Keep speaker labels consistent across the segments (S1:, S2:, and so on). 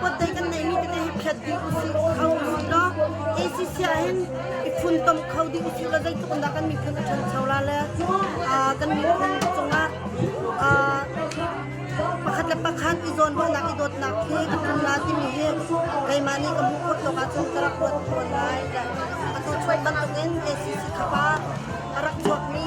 S1: Pot dei kan neihmi tete hi phiat ding usih kho usih law ACC ahhin i funtom kho ding usih law zeitluk in dah kan miphun a ṭhancho la le kan miphun cungah pakhat le pakhat i zawnruahnak i dawtnak hi a hmun la timi hi keimah nih ka hmuh khawh tawk ahcun ka rak ruat fawn lai a to chuak bantukin ACC khapa a rak chuakmi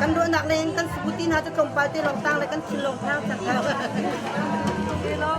S1: Kan ruahnak lei in kan sabu ti hna cu tlawmpal te lawng tang le kan thin lawng tang cang
S2: hlah.